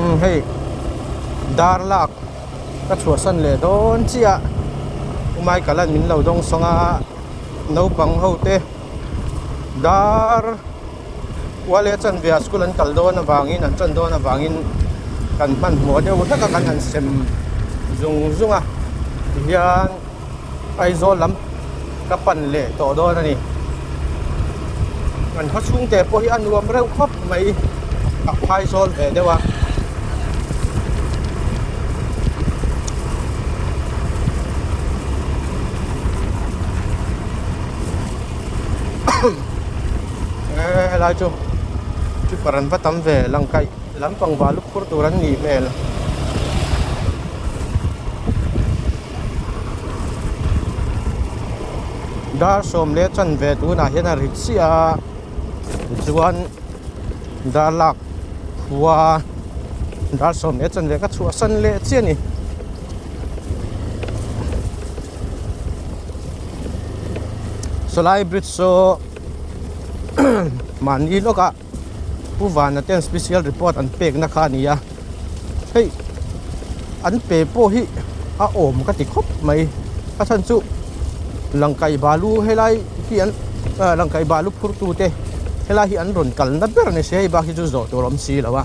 umm hei dar lak ka chhuah san leh dawn chiah umai kalan min lo dawng sawng a naupang ho te dar uale chanvia school an kal dawn avangin an chan dawn avangin kan hmanhmawh deuh hlek a kan han sem zung zung a tihian-- Aizawl lam ka pan leh tawh dawn a ni. An khaw chhung te pawh hi a nuam reuh khawp mai, a phai zawl ve deuh a. helai chu keeper an va tam ve lang kaih lampang va lukhur tur an nih hmel. dar sawm leh chanve tunah hian a rit chiah a tichuan dar lak khua dar sawm leh chanve ka chhuah san leh chiah a ni. Salai bridge saw mahni lawkah. Pu Vana ten special report an pekna kha a ni a, hei an pe pawh hi a awm ka ti khawp mai. A then chu Langkai balu helai hi an Langkai balu phurtute helai hi an rawn kalna ber ni se hei bak hi chu zawh tur awm si lo a.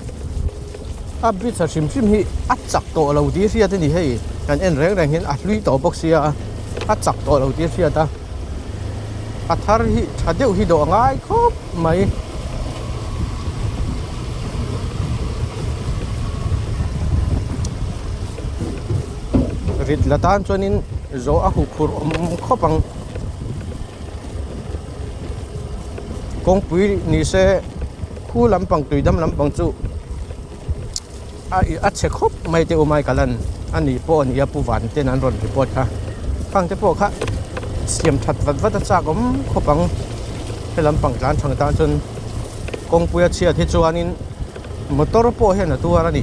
A bridge a hrim hrim hi a chak tawh lo tih a hriat a ni hei kan en reng reng hian a hlui tawh bawk sia a chak tawh lo tih a hriat a a thar hi tha deuh hi dawh ngai khawp mai rit la tan chuanin zawh a huk hur awm khawp ang kawngpui ni se. Pu lampang tuidam lampang chu a chhe khawp mai te umai kalan a ni pawh a nia Pu Vanten an rawn report kha khang te pawh kha siam that vat vat a chak awm khawp ang he lampang tlan thang tan chuan kawngpuia chhiat hi chuanin motor pawh hian a tuar a ni.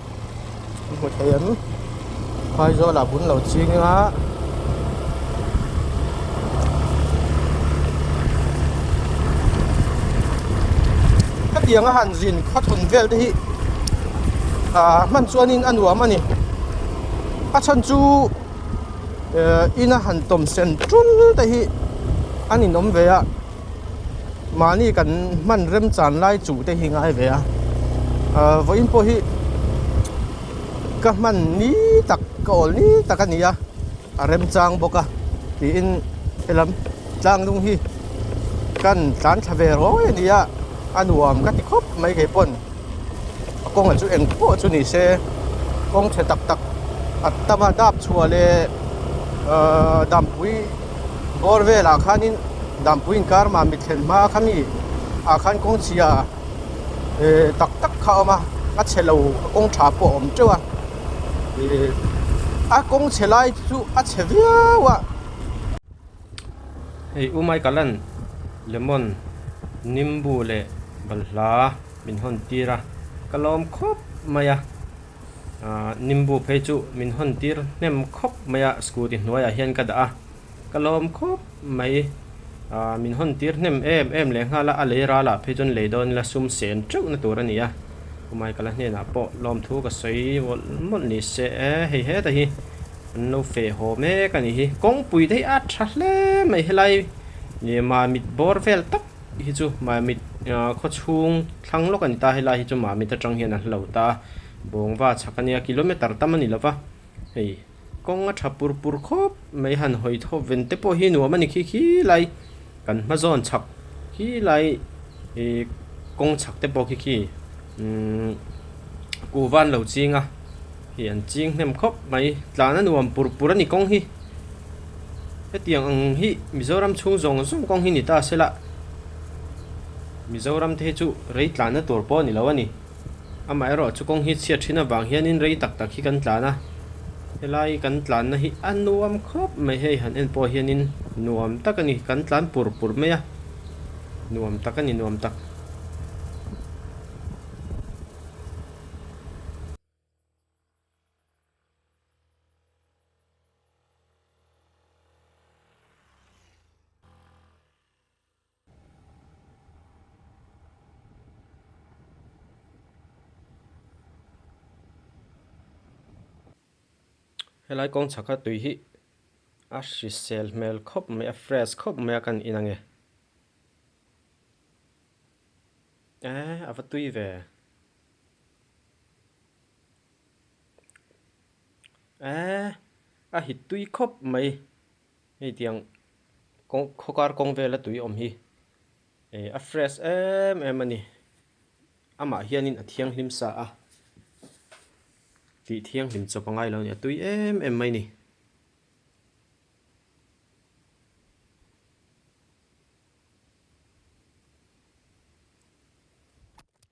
hmu thei ang phaizawl ah bun lo ching a hetiang a han zin khaw thun vel te hi ah hman chuan in a nuam a ni a chhan chu eh in a han tawmsen tul te hi an in awm ve a. Mahni kan hman remchan lai chuh te hi ngai ve a, vawiin pawh hi ka hman ni tak, ka awl ni tak a ni a, a remchang bawk a tiin helam tlangnung hi ka han tlan thla ve rawi a nia, a nuam ka ti khawp mai kei pawn. a kawngah chu eng pawh chu ni se kawng chhe tak tak a tam a dap chhuah leh ahh dampui bawr velah khanin dampui inkar mah mi thlen hma kha mi ah khan kawng chhia ehh tak tak kha a awm a a chhe lo a kawng tha pawh a awm teuh a ihh a kawng chhe lai chu a chhe viau a. Hei u Michael-a'n lemon nimbu leh balhla min hawn tir a, ka lawm khawp mai a, aah nimbu phei chu min hawn tir hnem khawp mai a, scooty hnuaiah hian ka dah a, ka lawm khawp mai, aah min hawn tir hnem em em leh nghal a, a lei ralah phei chuan lei dawn ila sum sen teuh na tur a ni a, u Michael-a hnenah pawh lawmthu ka sawi mawlh mawlh ni se e, hei hetah hi. An lo fe haw mek a nih hi. Kawngpui daih a tha hle mai helai mamit bawr vel tak hi chu mamit khawchhung thlang lawk a ni ta. Helai hi chu mamit atang hian an hlo ta a, bawngva chhak a nia kilometre tam a ni lova. Hei kawng a tha pur pur khawp mai han hawi tho vente pawh hi nuam a ni khi khi lai. Kan hma zawn chhak hi lai i kawng chhak te pawh khi khi umm kuh van lo ching a hei an ching hnem khawp mai tlan a nuam pur pur a ni kawng hi hetiang ang hi Mizoram chhung zawng zawng kawng hi ni ta se lah Mizoram te hi chu rei tlan na tur pawh ni lo a ni. Amaherawh chu kawng hi chhiat thin avang hianin rei tak tak hi kan tlan a, helai kan tlanna hi a nuam khawp mai hei han en pawh hianin nuam tak a ni, kan tlan pur pur mai a, nuam tak a ni nuam tak. Helai kawng chhak a tui hi a hrisel hmel khawp mai a, a fresh khawp mai a ka nih in ang e. Eee a va tui ve e. Eee a hit tui khawp mai. Hei tiang kawng khawkar kawng vela tui awm hi eh a fresh em em a ni. Amah hianin a thianghlim sa a, tih thianghlim chawp a ngai lo a ni. A tui em em mai a ni.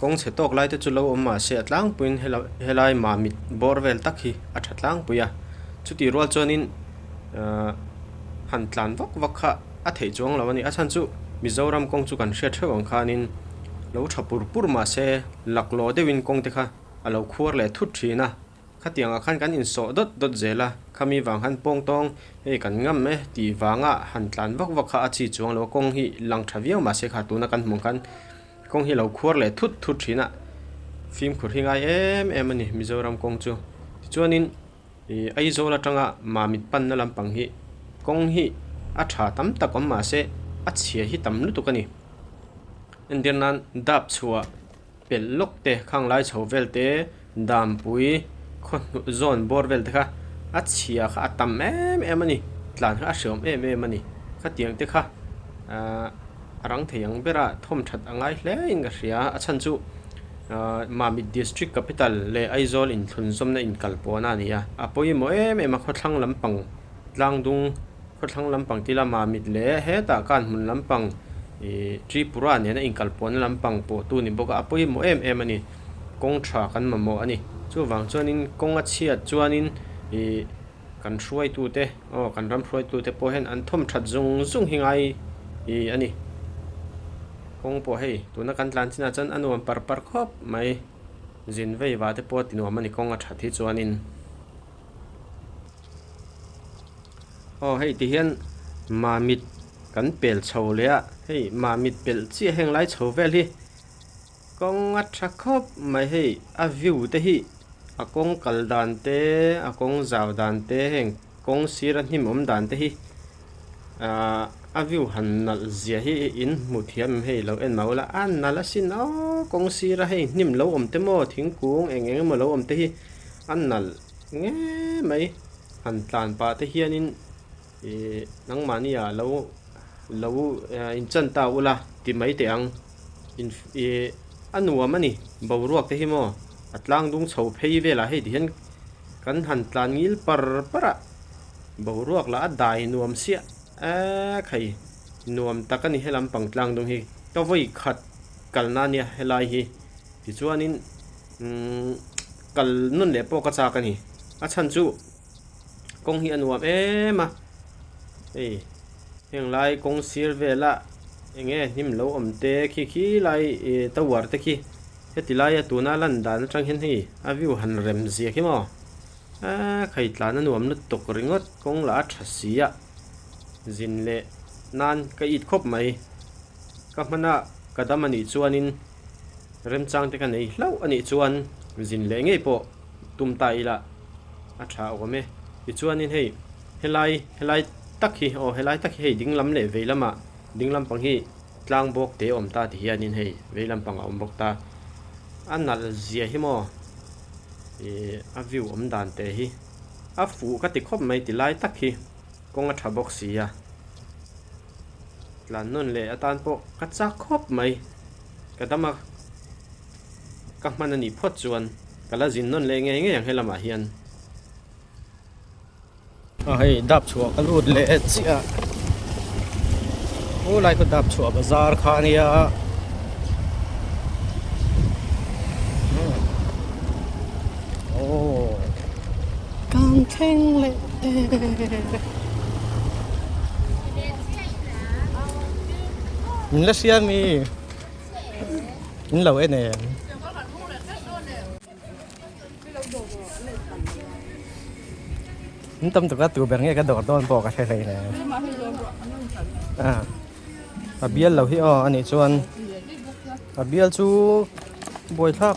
Kawng chhe tawk lai te chu lo awm mah se a tlangpuiin hela helai mah mit bawr vel tak hi a tha tlangpui a, chutih rual chuanin aah han tlan vak vak kha a theih chuang lo a ni. A chhan chu Mizoram kawng chu kan hriat hreuh ang khanin lo tha pur pur mah se laklaw deuhin kawng te kha a lo khuar leh thut thin a, khatiang ah khan kan insawh dawt dawt zel a, khami vang khan pawng tawng hei kan ngam e tih vang a han tlan vak vak kha a chhi chuang lo a, kawng hi lang tha viau mah se kha tuna kan hmuh ang khan Kawng hi lo khuar leh thut thut thin a, fimkhur hi ngai em em a ni Mizoram kawng chu. Tichuanin ih Aizawl atanga mamit panna lampang hi kawng hi a tha tam tak awm mah se a chhia hi tam lutuk a ni. Entirnan dap chhuah pelh lawk te, khanglai chho vel te, Dampui khawhnuh zawn bawr vel te kha a chhia kha a tam em em a ni, tlan kha a hreawm em em a ni. Khatiang te kha a rang thei ang ber a, thawm that a ngai hle in ka hria. A chhan chu Mamit District Capital leh Aizawl inthlunzawmna inkalpawhna a ni a. A pawimawh em em a khawthlang lampang Tlangdung khawthlang lampang ti ila Mamit leh hetah Kanmun lampang ih Tripura nena inkalpawhna lampang pawh tu a ni bawk a, a pawimawh em em a ni. kawng tha kan mamawh a ni. Chuvang chuanin kawng a chhiat chuanin ih kan hruaitute aw kan ram hruaitute pawh hian an thawm that zung zung hi ngai ih a ni. Kawng pawh hei tuna kan tlan chinah chuan a nuam par par khawp mai. Zin vei vah te pawh a tinuam a ni kawng a that hi chuanin. Aw hei ti hian mamit kan pel chho leh a, hei mamit pel chiah heng lai chho vel hi Kawng a tha khawp mai hei, a view te hi a kawng kal dan te, a kawng zau dan te heng kawng sira hnim awm dan te hi aah a view han nalh zia hi in hmu thiam em hei lo en mau la, a nalh a sin aw kawng sira hei hnim lo awm te maw thingkung eng eng emaw lo awm te hi a nalh nge mai han tlan pah te hian in Nangmahni ah lo lo in chan ta ula ti mai teh ang in i a nuam a ni boruak te hi maw a tlang dung chho phei vel ah hei ti hian kan han tlan ngil par par a boruak lah a dai nuam siah eee khai nuam tak a ni helam pang tlang dung hi ka vawi khat kal na nia helai hi tichuan in umm kal nun leh pawh ka chak a ni a chhan chu kawng hi a nuam em a ei heng lai kawng sir vela eng nge hnim lo awm te khi khi lai e tower te khi heti lai a tuna lan dan atang hian hei a view han rem ziah hi maw a khai tlan a nuam lutuk ringawt kawng lah a tha si a zin leh nan ka it khawp mai ka hmana ka dam a nih chuan in Remchang te ka nei hlauh a nih chuan zin leh ngei pawh tum ta ila a tha awm e. Tichuanin hei helai helai tak hi aw helai tak hi hei dinglam leh veilam ah dinglam pang hi tlang bawk te awm ta ti hianin hei veilam pang a awm bawk ta a nalh zia hi maw ih a view awm dan teh hi a fuh ka ti khawp mai ti lai tak hi. kawng a tha bawk si a, tlan nawn leh atan pawh ka chak khawp mai, ka dam a ka hman a nih phawt chuan ka la zin nawn leh ngei ngei ang he lamah hian. A hei dap chhuah ka lut leh chiah, aw lai khaw dap chhuah bazar kha a nia, aw. Kan thleng leh e. Min la hria mi. Min lo en em. Min tam tuk a tu ber nge ka dawr dawn pawh ka hre hlei nè. A a bial lo hi aw a nih chuan a bial chu buai thlak.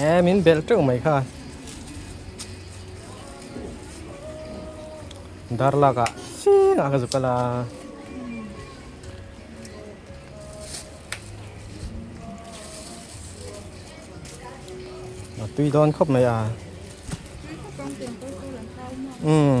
Eee, min belh teuh mai kha. Dar laka, xii na ka zuka la. Tui don khop mai a. Tui khop ang teng pawh chu la hlau maw? Umm.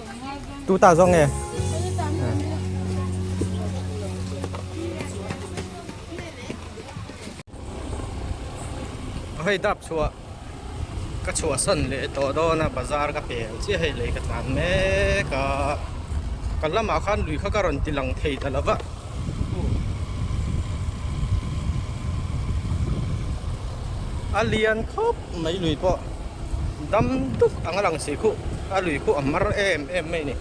Tu ta zong e. Hei dap chua. Ka chua san le to do na bazar ka pe chi hei le ka tlan me ka. Ka lama khan lui kha ka ron tilang thei ta lova. a lian khawp mai lui pawh dam duk anga lang si khuh a lui khuh a hmar em em mai ni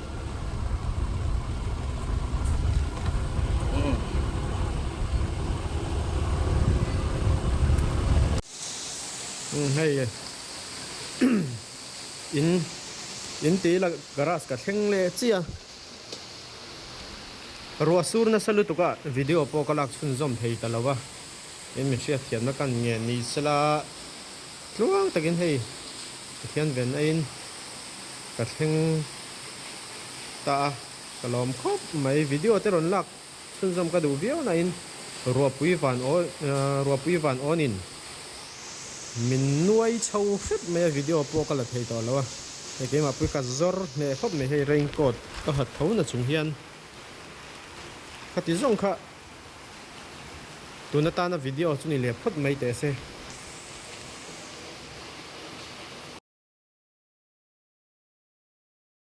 umm umm hei e in in tih ila garage ka thleng leh chiah a. Ruah sur nasa lutuk ah video pawh ka lak chhun zawm thei ta lo a, i mi hriatthiamna kan ngen ni se la, tluang takin hei Pathian ven aiin ka thleng ta a, ka lawm khawp mai video te rawn lak Chhunzawm ka duh viau nain Ruapui Van Aw Ruapui Van Awn-in min nuai chho hrep mai a, video pawh ka la thei tawh lo a, hei keimah pawh i cut zawr hneh khawp mai, hei raincoat ka ha tho na chung hian khati zawng kha tun atana video chu ni leh phawt mai teh se.